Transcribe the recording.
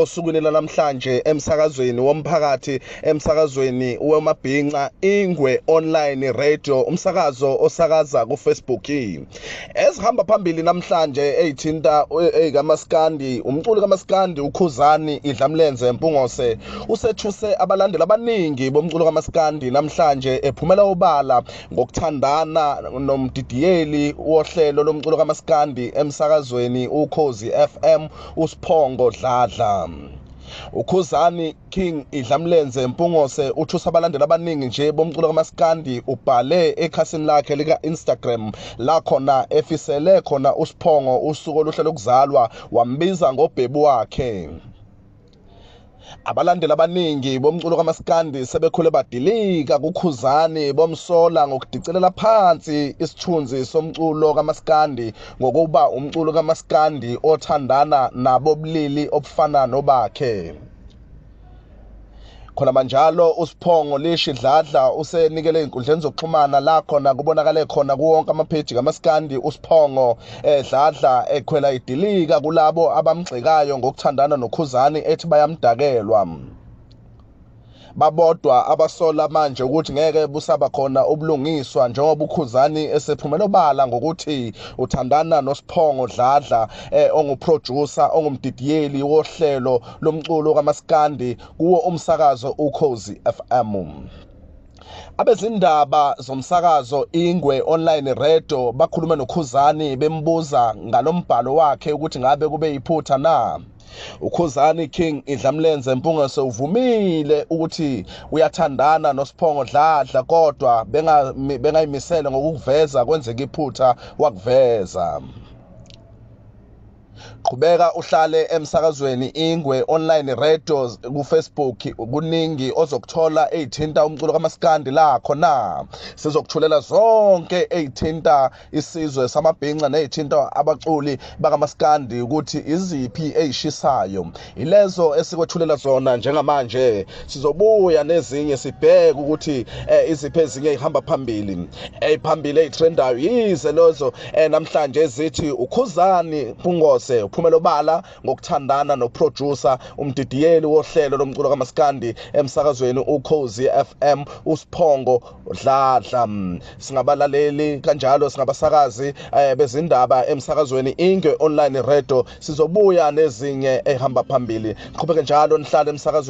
osukwini lanamhlanje emsakazweni womphakathi emsakazweni wemabhinca ingwe online radio umsakazo osakaza kufacebook ezihamba phambili namhlanje eyithinta eyikamaskandi umculi kamaskandi ukhuzani idlamlenze mpungose usethuse abalandeli abaningi bomculo kamaskandi namhlanje ephumela obala ngokuthandana nomdidiyeli wohlelo lomculo kamaskandi emsakazweni ukhozi FM uSphongo Dladla ukhuzani king idlamlenze mpungose uthusa abalandeli abaningi nje bomculo kamaskandi ubhale ekhasini lakhe lika-instagram la khona efisele khona usiphongo usuku oluhle lokuzalwa wambiza ngobhebu wakhe Abalandeli abaningi bomculo kamaskandi sebekhule badilika kuKhuzani bomsola ngokudicelela phansi isithunzi somculo kamaskandi ngokuba umculo kamaskandi othandana nabobulili obufana nobakhe. khona manjalo usiphongo lishi dladla usenikele inkundleni zokuxhumana la khona kubonakale khona kuwonke amapheji kamaskandi usiphongo edladla eh, ekhwela idilika kulabo abamgxekayo ngokuthandana nokhuzani ethi bayamdakelwa babodwa abasola manje ukuthi ngeke busaba khona ubulungiswa njengoba ukhuzani esephumela obala ngokuthi uthandana nosiphongo dladla eh, onguproducer ongumdidiyeli wohlelo lomculo kamaskandi kuwo umsakazo ukhozi FM. Abezindaba zomsakazo Ingwe Online Radio bakhuluma noKhuzani bembuza ngalombhalo wakhe ukuthi ngabe kube yiphutha na. ukhuzani king idlamlenze mpungaso uvumile ukuthi uyathandana nosiphongo dladla kodwa bengayimisele ngokukuveza kwenzeka iphutha wakuveza qhubeka uhlale emsakazweni ingwe online radio kufacebook kuningi ozokuthola eyithinta umculo kamaskandi la khona sizokuthulela zonke eyithinta isizwe samabhinca neyithinta abaculi bakamaskandi ukuthi iziphi eyishisayo yilezo esikwethulela zona njengamanje sizobuya nezinye sibheke ukuthi eh, iziphi ezinye ihamba phambili eyiphambili eyitrendayo yize lezo eh, namhlanje zithi ukhuzani pungose uphumela obala ngokuthandana noproducer umdidiyeli wohlelo lomculo kamaskandi emsakazweni ukhozi FM usiphongo dladla singabalaleli kanjalo singabasakazi eh, bezindaba emsakazweni ingwe online radio Sizobuya nezinye ehamba phambili. Qhubeke njalo nihlale emsakazweni.